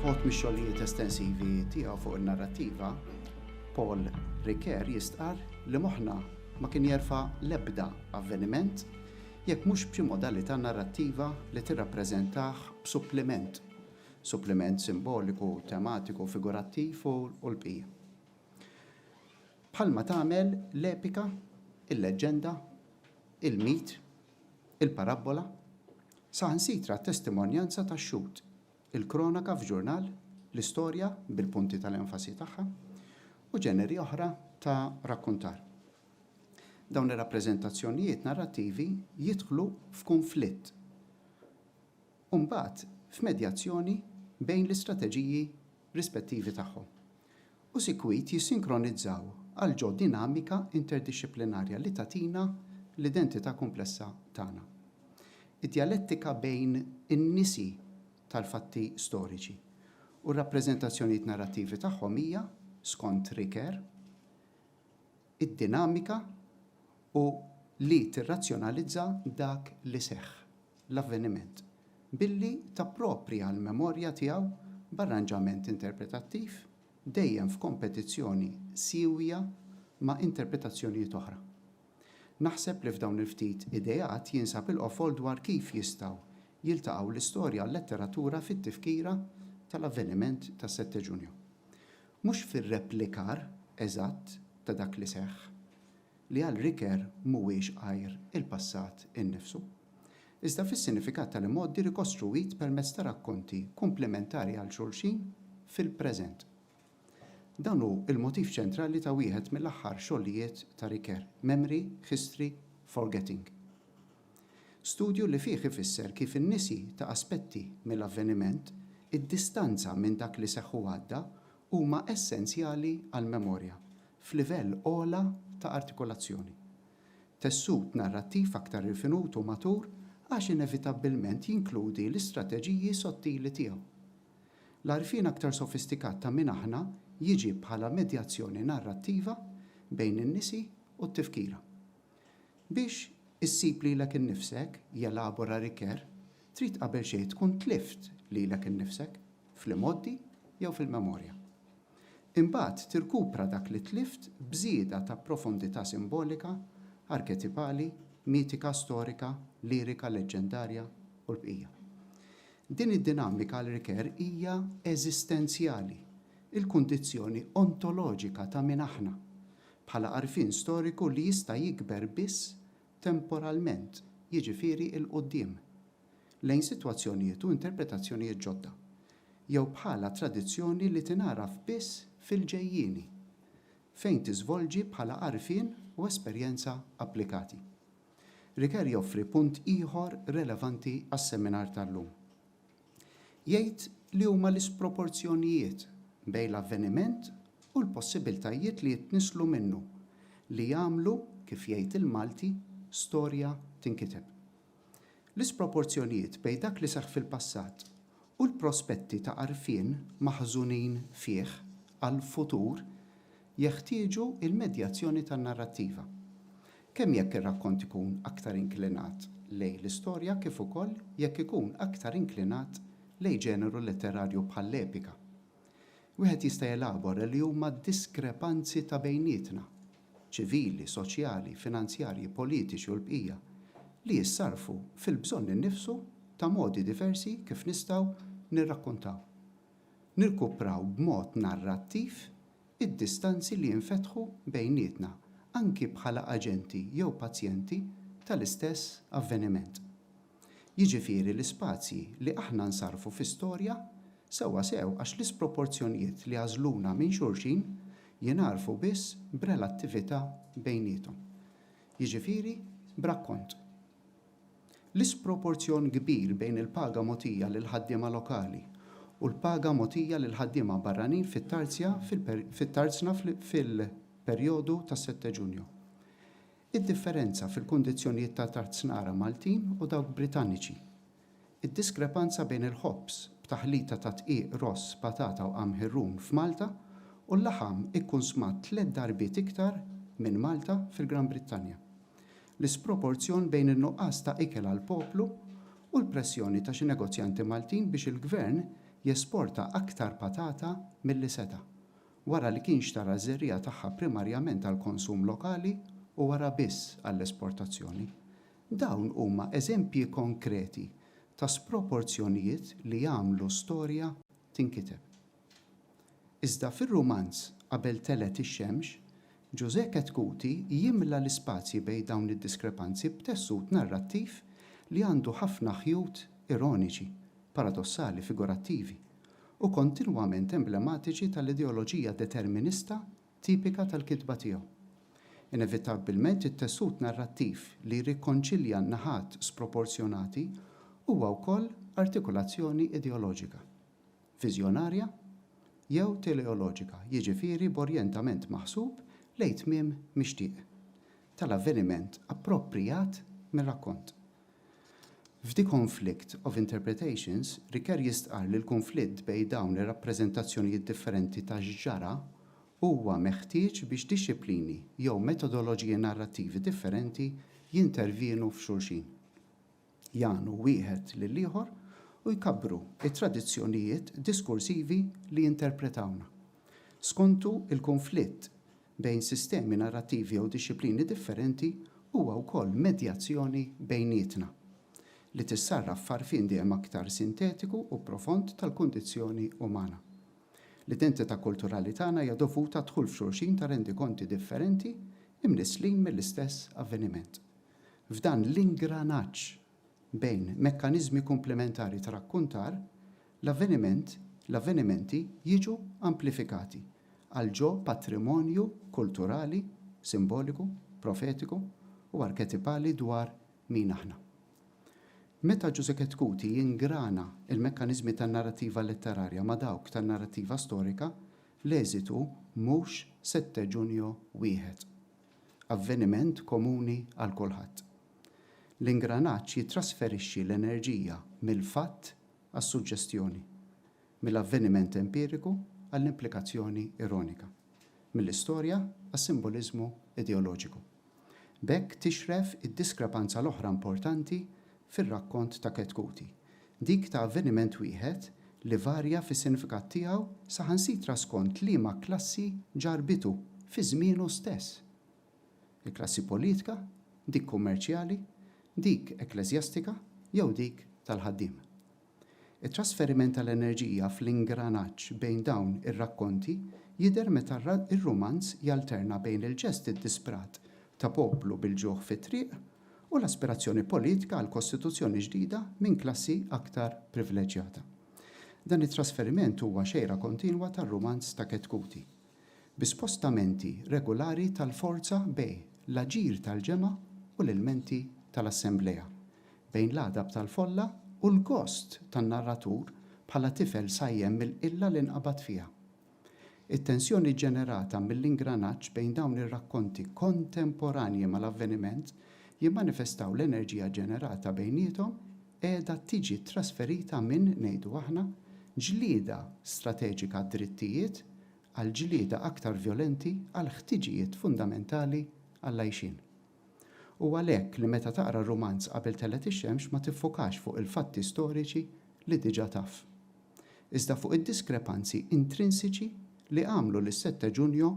Fot mix-xogħlijiet estensivi tiegħu fuq in-narrattiva, Paul Riker jistqar li moħħna ma kien jerfa' l-ebda avveniment jekk mhux b'xi modalità narrattiva li tirrappreżentah b'suppliment, suppliment simboliku, tematiku, figurattiv u l-bqija. Bħalma tagħmel l-epika, il-leġġenda, il-mit, il-parabbola, saħansitra t-testimonjanza tax-xhud, il-kronaka f'ġurnal, l-istorja bil-punti tal-enfasi tagħha, u ġeneri oħra ta' rakkuntar. Dawn ir-rappreżentazzjonijiet narrattivi jidħlu f'kunflitt u mbagħad f'medjazzjoni bejn l-istrateġiji rispettivi tagħhom, u sikwit jissinkronizzaw għal ġo dinamika interdixxiplinarja li tagħtina l-identità kumplessa tagħna. Id-djalettika bejn in-nisi tal-fatti storiċi u r-rappreżentazzjonijiet narrattivi tagħhom hija, skont Ricoeur, id-dinamika u li tirrazzjonalizza dak li seħħ, l-avveniment, billi tapproprja l-memorja tiegħu b'arranġament interpretattiv dejjem f'kompetizzjoni siewja ma' interpretazzjonijiet oħra. Naħseb li f'dawn il-ftit ideat jinsab il-qofol dwar kif jistgħu jiltaqgħu l-istorja u l-letteratura fit-tifkira tal-avveniment tas-Sette Ġunju. Mhux fir-replikar eżatt ta' dak li seħħ, li għal Ricoeur mhuwiex għajr il-passat innifsu, iżda fis-sinifikat tal-imgħoddi rikostruwit permezz ta' rakkonti kumplimentari għal xulxin fil-preżent. Dan hu l-motiv ċentrali ta' wieħed mill-aħħar xogħlijiet ta' Ricoeur, Memory, History, Forgetting. Studju li fih ifisser kif in-nisi ta' aspetti mill-avveniment, id-distanza minn dak li seħħ u għadda, huma essenzjali għall-memorja, f'livell ogħla ta' artikulazzjoni. Tessut narrattiv aktar rifinut u matur għax inevitabbilment jinkludi l-istrateġiji sottili tiegħu. L-għarfien aktar sofistikat ta' min aħna jiġi bħala medjazzjoni narrattiva bejn in-nisi u t-tifkira. Biex issib lilek innifsek, jelabora Ricoeur, trid qabel xejn tkun tlift lilek innifsek, fl-imgħoddi jew fil-memorja. Imbagħad tirkupra dak li tlift b'żieda ta' profondità simbolika, arketipali, mitika, storika, lirika, leġġendarja, u l-bqija. Din id-dinamika għal Ricoeur hija eżistenzjali, il-kundizzjoni ontoloġika ta' min aħna, bħala għarfien storiku li jista' jikber biss temporalment, jiġifieri 'il quddiem, lejn sitwazzjonijiet u interpretazzjonijiet ġodda, jew bħala tradizzjoni li tingħaraf biss fil-ġejjieni, fejn tiżvolġi bħala għarfien u esperjenza applikati. Riker joffri punt ieħor relevanti għas-seminar tal-lum. Jgħid li huma l-isproporzjonijiet bejn l-avveniment u l-possibiltajiet li jitnisslu minnu li jagħmlu, kif jgħid il-Malti, storja tinkiteb. L-isproporzjonijiet bejn dak li seħħ fil-passat u l-prospetti ta' għarfien maħżunin fih għall-futur jeħtieġu l-medjazzjoni tan-narrattiva, kemm jekk ir-rakkont ikun aktar inklinat lejn l-istorja kif ukoll jekk ikun aktar inklinat lejn ġeneru letterarju bħall-epika. Wieħed jista' jelabora li huma d-diskrepanzi ta' bejnietna, ċivili, soċjali, finanzjarji, politiċi u l-bqija, li jissarrfu fil-bżonn innifsu ta' modi diversi kif nistgħu nirrakkuntaw. nirkupraw b'mod narrattiv id-distanzi li jinfetħu bejnietna anki bħala aġenti jew pazjenti tal-istess avveniment. Jiġifieri l-ispazji li aħna nsarrfu fi storja sewwasew għax l-isproporzjonijiet li jagħżluna minn xulxin jingħarfu biss b'relattività bejniethom, jiġifieri b'rakkont. L-isproporzjon kbir bejn il-paga mogħtija lill-ħaddiema lokali u l-paga mogħtija lill-ħaddiema barranin fit-tarzja fit-tarzna fil-perjodu ta' Sette Ġunju. Id-differenza fil-kundizzjonijiet ta' tarznara Maltin u dawk Britanniċi. Id-diskrepanza bejn il-ħobż b'taħlita ta' dqiq ross, patata u qamħi rum f'Malta u l-laħam ikkunsmat tliet darbiet iktar minn Malta fil-Gran Brittanja. L-isproporzjon bejn in-nuqqas ta' ikel għall-poplu u l-pressjoni ta' xi negozjanti Maltin biex il-Gvern jesporta aktar patata milli seta', wara li kien xtara ż-żerriegħa tagħha primarjament għall-konsum lokali u wara biss għall-esportazzjoni, Dawn huma eżempji konkreti ta' sproporzjonijiet li jagħmlu storja tinkiteb. Iżda fir-rumanz Qabel telgħet ix-xemx, Ġużè Chetcuti jimla l-ispazji bejn dawn id-diskrepanzi b'tessut narrattiv li għandu ħafna ħjut ironiċi, paradossali, figurattivi, u kontinwament emblematiċi tal-ideoloġija determinista tipika tal-kitba tiegħu. Inevitabbilment it-tessut narrattiv li jirrikonċilja n-naħat sproporzjonati huwa wkoll artikulazzjoni ideoloġika, viżjonarja jew teleoloġika, jiġifieri b'orjentament maħsub lejn tmiem mixtieq tal-avveniment approprijat mir-rakkont. F'The Conflict of Interpretations, Ricoeur jistqarr li l-kunflitt bejn dawn ir-rappreżentazzjonijiet differenti ta' x'ġara huwa meħtieġ biex dixxiplini jew metodoloġiji narrattivi differenti jintervjenu f'xulxin, jagħnu wieħed lill-ieħor u jkabbru t-tradizzjonijiet diskursivi li jinterpretawna. Skontu, il-kunflitt bejn sistemi narrattivi jew dixxiplini differenti huwa wkoll medjazzjoni bejnietna, li tissarraf f'għarfien dejjem aktar sintetiku u profond tal-kundizzjoni umana. L-identità kulturali tagħna hija dovuta għad-dħul f'xulxin ta' rendikonti differenti imnisslin mill-istess avveniment. F'dan l-ingranaġġ bejn mekkaniżmi komplementari ta' rakkuntar, l-avveniment, l-avvenimenti jiġu amplifikati għal ġo patrimonju kulturali, simboliku, profetiku u arketipali dwar min aħna. Meta Giusecket Cuti jingrana l-mekkaniżmi tan-narrattiva letterarja ma' dawk tan-narrattiva storika, l-eżitu mhux setteġunjo wieħed. Avveniment komuni għal kulħadd. L-ingranaġġ jittrasferixxi l-enerġija mill-fatt għas-suġġestjoni, mill-avveniment empiriku għall-implikazzjoni ironika, mill-istorja għas-simboliżmu ideoloġiku. B'hekk tixref id-diskrepanza l-oħra importanti fir-rakkont ta' Ketkuti, dik ta' avveniment wieħed li varja fis-sinifikat tiegħu saħansitra skont liema klassi ġarrbitu fi żmienu stess. il-klassi politika, dik kummerċjali, dik ekkleżjastika jew dik tal-ħaddiem. It-trasferiment tal-enerġija fl-ingranaġġ bejn dawn ir-rakkonti jidher meta r-rumanz jalterna bejn il-ġest iddisprat ta' poplu bil-ġuħ fit-triq u l-aspirazzjoni politika għal kostituzzjoni ġdida minn klassi aktar privleġġjata. Dan it-trasferiment huwa xejra kontinwa tar-rumanz ta' Ketkuti. bi spostamenti regulari tal-forza bejn l-aġir tal-ġemgħa u l-ilmenti tal-assemblea, bejn l-għadab tal-folla u l-gost tan-narratur bħala tifel sajjen mill-qilla li nqabad fiha. It-tensjoni ġġenerata mill-ingranaġġ bejn dawn ir-rakkonti kontemporanji mal-avveniment jimmanifestaw l-enerġija ġġenerata bejniethom qiegħda tiġi ttrasferita minn, ngħidu aħna, ġlieda strateġika għad-drittijiet għal ġlieda aktar vjolenti għall-ħtiġijiet fundamentali għall-għajxien. U għalhekk li meta taqra r-rumanz Qabel Telgħet ix-Xemx ma tiffokax fuq il-fatti storiċi li diġà taf. Iżda fuq id-diskrepanzi intrinsiċi li għamlu lis-Sette Ġunju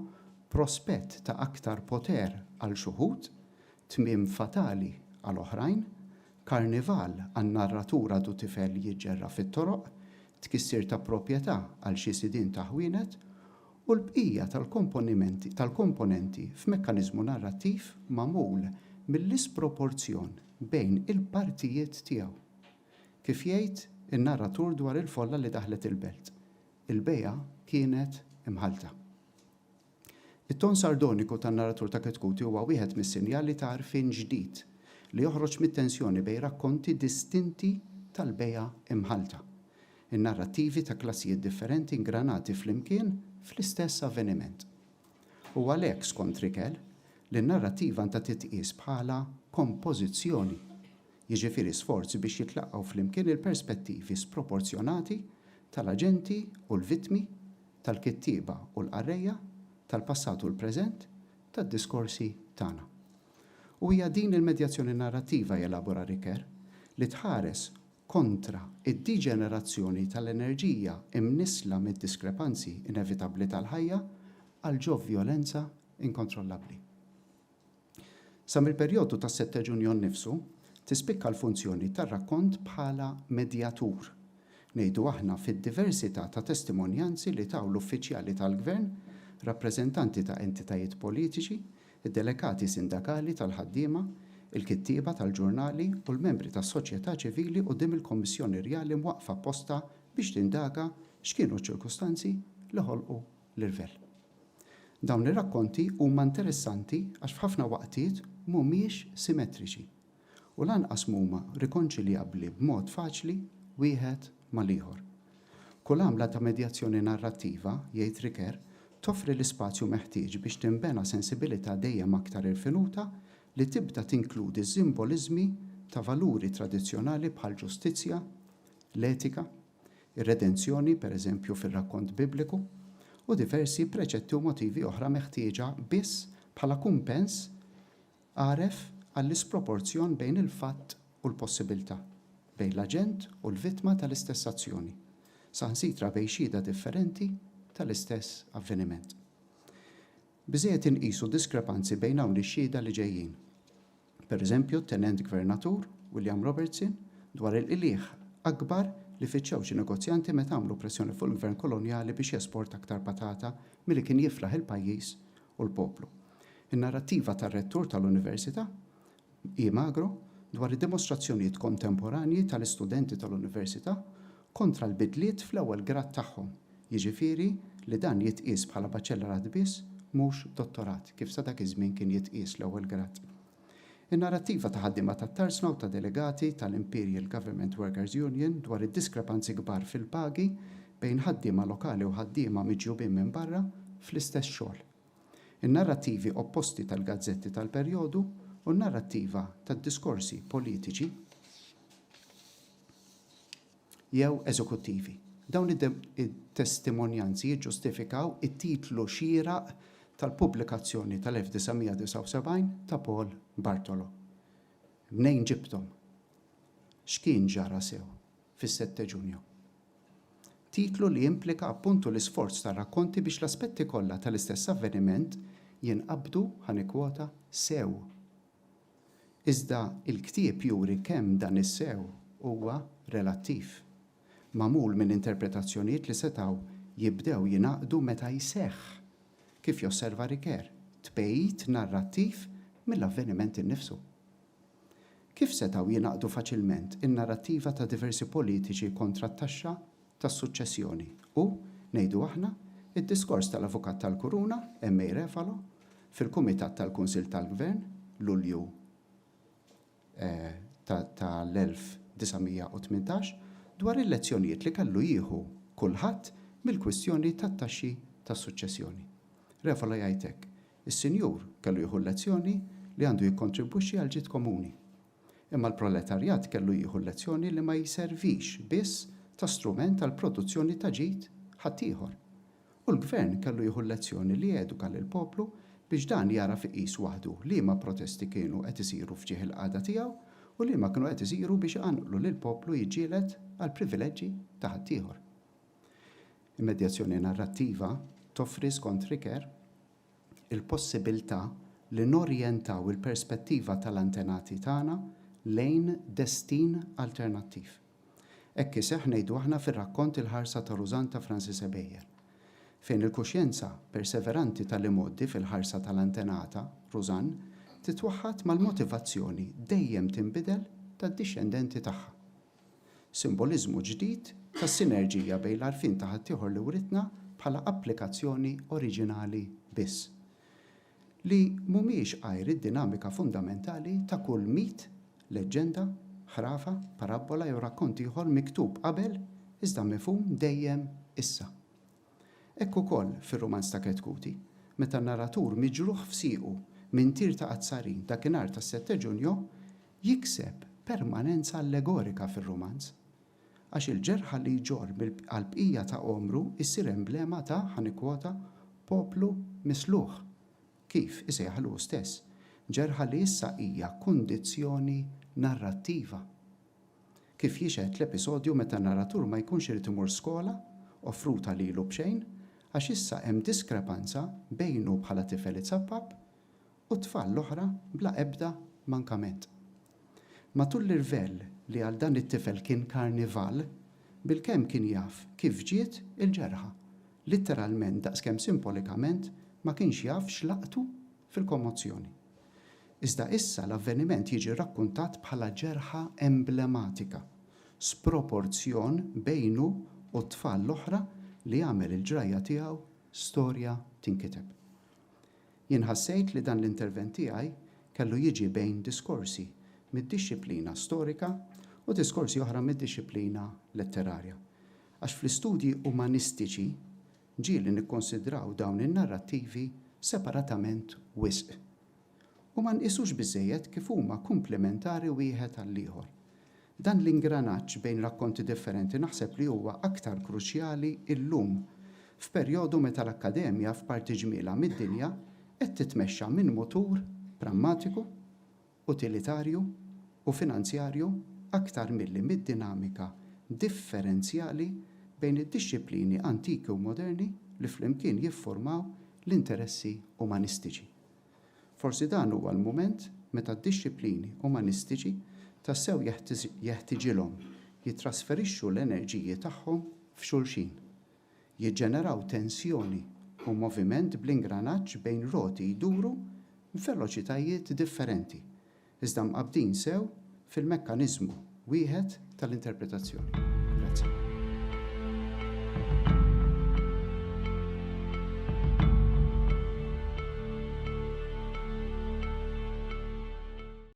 prospett ta' aktar poter għal x'uħud, Tmiem fatali għal oħrajn, karnival għal narratur għadu tifel jiġġerra fit-toroq, tkissir ta' proprjetà għal xi sidien ta' ħwienet, u l-bqija tal-komponimenti tal-komponenti f'mekkaniżmu narrattiv magħmul mill-isproporzjon bejn il-partijiet tiegħu. Kif jgħid in-narratur dwar il-folla li daħlet il-belt, il-bejgħa kienet imħallta. It-ton sardoniku tan-narratur ta' Kitkuti huwa wieħed mis-sinjali ta' għarfien ġdid li joħroġ mit-tensjoni bejn rakkonti distinti tal-bejgħa imħallta, in-narrattivi ta' klassijiet differenti ngranati flimkien fl-istess avveniment. U għalhekk, skont Rickel, li n-narrattiva għandha titqies bħala kompożizzjoni, jiġifieri sforz biex jitlaqgħu flimkien il-perspettivi sproporzjonati tal-aġenti u l-vittmi, tal-kittieba u l-qarrejja tal-passat u l-preżent tad-diskorsi tagħna. U hija din il-medjazzjoni narrattiva, jelabora Ricoeur, li tħares kontra d-diġenerazzjoni tal-enerġija imnissla mid-diskrepanzi inevitabbli tal-ħajja għal ġo vjolenza inkontrollabbli. Sa mill-perjodu tas-setteġ unjon nnifsu tispikka l-funzjoni tar-rakkont bħala medjatur, ngħidu aħna, fid-diversità ta' testimonjanzi li taw l-uffiċjali tal-gvern, rappreżentanti ta' entitajiet politiċi, id-delegati sindakali tal-ħaddiema, il-kittieba tal-ġurnali u l-membri tas-soċjetà ċivili quddiem il-Kummissjoni Rjali mwaqqfa apposta biex tindaga x'kienu ċ-ċirkustanzi li ħolqu l-irvell. Dawn ir-rakkonti huma interessanti għax f'ħafna waqtiet m'humiex simetriċi u lanqas m'huma rikonċiljabbli b'mod faċli wieħed mal-ieħor. Kull għamla ta' medjazzjoni narrattiva, jgħid Riquer, toffri l-ispazju meħtieġ biex tinbena sensibilità dejjem aktar irfinuta li tibda tinkludi simboliżmi ta' valuri tradizzjonali bħall-ġustizzja, l-etika, ir-redenzjoni, per eżempju, fir-rakkont Bibliku, u diversi preċetti u motivi oħra meħtieġa biss bħala kumpens għaref għall-isproporzjon bejn il-fatt u l-possibiltà, bejn l-aġent u l-vittma tal-istess azzjoni, saħansitra bejn xhieda differenti tal-istess avveniment. Biżżejjed inqisu diskrepanzi bejn hawn ix-xhieda li ġejjin. pereżempju t-tenent gvernatur, William Robertson, dwar il-qligħ akbar li fittxew xi negozjanti meta għamlu pressjoni fuq il-gvern kolonjali biex jesporta aktar patata milli kien jiflaħ il-pajjiż u l-poplu. In-narrattiva tar-rettur tal-Università, E. Magro, dwar id-dimostrazzjonijiet kontemporanji tal-istudenti tal-Università kontra l-bidliet fl-ewwel grad tagħhom, jiġifieri li dan jitqies bħala baċellerat biss mhux dottorat, kif sa dak iż-żmien kien jitqies l-ewwel grad. In-narrattiva ta' ħaddiema tat-tarsna u ta' delegati tal-Imperial Government Workers Union dwar id-diskrepanzi kbar fil-pagi bejn ħaddiema lokali u ħaddiema miġjubin minn barra fl-istess xogħol, in-narrattivi opposti tal-gazzetti tal-perjodu u n-narrattiva tad-diskorsi politiċi, jew eżekuttivi. Dawn it-testimonjanzi jiġġustifikaw it-titlu xieraq tal-pubblikazzjoni tal-1979 ta' Paul Bartolo. Mnejn ġibthom? X'kien ġara sew fis-Setteġunju? Titlu li jimplika appuntu l-isforz tar-rakkonti biex l-aspetti kollha tal-istess avveniment jinqabdu, ħa nikkwota, sew. Iżda l-ktieb juri kemm dan is-sew huwa relattiv, magħmul minn interpretazzjonijiet li setgħu jibdew jingħaqdu meta jseħħ, kif josserva Ricoeur, tbegħid narrattiv mill-avveniment innifsu. Kif setgħu jingħaqdu faċilment in-narrattiva ta' diversi politiċi kontra t-taxxa tas-suċċessjoni u, ngħidu aħna, id-diskors tal-Avukat tal-Kuruna, MA Refalo, fil-Kumitat tal-Kunsill tal-Gvern, Lulju tal-1918, dwar il-lezzjonijiet li kellu jieħu kulħadd mill-kwistjoni tat-taxxi tas-suċċessjoni. Refalo jgħid hekk, Is-Sinjur kellu jieħu l-lezzjoni li għandu jikkontribwixxi għall-ġid komuni. Imma l-proletarjat kellu jieħu l-lezzjoni li ma jservix biss ta' strument għall-produzzjoni ta' ġid ħaddieħor. U l-Gvern kellu jieħu l-lezzjoni li eduka lill-poplu biex dan jagħraf iqis waħdu liema protesti kienu qed isiru f'ġieħ il-qagħda tiegħu u liema kienu qed isiru biex iqanqlu lill-poplu jiġġieled għall-privileġġi ta' ħaddieħor. Il-medjazzjoni narrattiva toffri, skont Riquer, il-possibilità li norjentaw il-perspettiva tal-antenati tagħna lejn destin alternattiv. Hekk iseħħ ngħidu aħna fir-rakkont Il-Ħarsa ta' Rużann ta' Francis Ebejer, fejn il-kuxjenza perseveranti tal-imgħoddi fil-ħarsa tal-antenata, Rużann, titwaħħad mal-motivazzjoni dejjem tinbidel tad-dixxendenti tagħha. Simboliżmu ġdid ta' sinerġija bejn l-għarfien ta' ħaddieħor li writna bħala applikazzjoni oriġinali biss, li mhumiex għajr id-dinamika fundamentali ta' kull mit, leġġenda, ħrafa, parabbola jew rakkont ieħor miktub qabel iżda mifhum dejjem issa. Hekk ukoll fir-rumanz ta' Kett Kuti, meta n-narratur miġruħ f'siequ minn tir ta' qazzarin dakinhar tas-Sette Ġunjo, jikseb permanenza allegorika fir-rumanz. Għax il-ġerħa li jġorr għall-bqija ta' għomru ssir emblema ta', ħa nikkwota, poplu misluħ, kif isejjaħlu hu stess, ġerħa li issa hija kundizzjoni narrattiva. Kif jixhed l-episodju meta n-narratur ma jkunx irid imur skola offruta lilu b'xejn għax issa hemm diskrepanza bejnu bħala tifel itsappab u t-tfal l-oħra bla ebda mankament. Matul l-irvell li għal dan it-tifel kien karnival, bilkemm kien jaf kif ġiet il-ġerħa, litteralment daqskemm simpolikament ma kienx jaf x'laqtu fil-kommozzjoni. Iżda issa l-avveniment jiġi rakkuntat bħala ġerħa emblematika, sproporzjon bejnu u t-tfal l-oħra li għamel il-ġrajja tiegħu storja tinkiteb. Jien ħassejt li dan l-intervent tiegħi kellu jiġi bejn diskorsi mid-dixxiplina storika u diskorsi oħra mid-dixxiplina letterarja, għax fl-istudji umanistiċi ġieli nikkonsidraw dawn in-narrattivi separatament wisq. u ma nqisux biżżejjed kif huma kumplimentari wieħed għall-ieħor. Dan l-ingranaġġ bejn rakkonti differenti naħseb li huwa aktar kruċjali llum, f'perjodu meta l-Akkademja f'parti ġmielha mid-dinja qed titmexxa minn mutur prammatiku, utilitarju u finanzjarju aktar milli mid-dinamika differenzjali bejn id-dixxiplini antiki u moderni li flimkien jiffurmaw l-interessi umanistiċi. Forsi dan huwa l-mument meta d-dixxiplini umanistiċi tassew jeħtiġilhom jittrasferixxu l-enerġiji tagħhom f'xulxin, jiġġeneraw tensjoni u moviment bl-ingranaġġ bejn roti jduru b'veloċitajiet differenti iżda mqabbdin sew fil-mekkaniżmu wieħed tal-interpretazzjoni. Grazzi.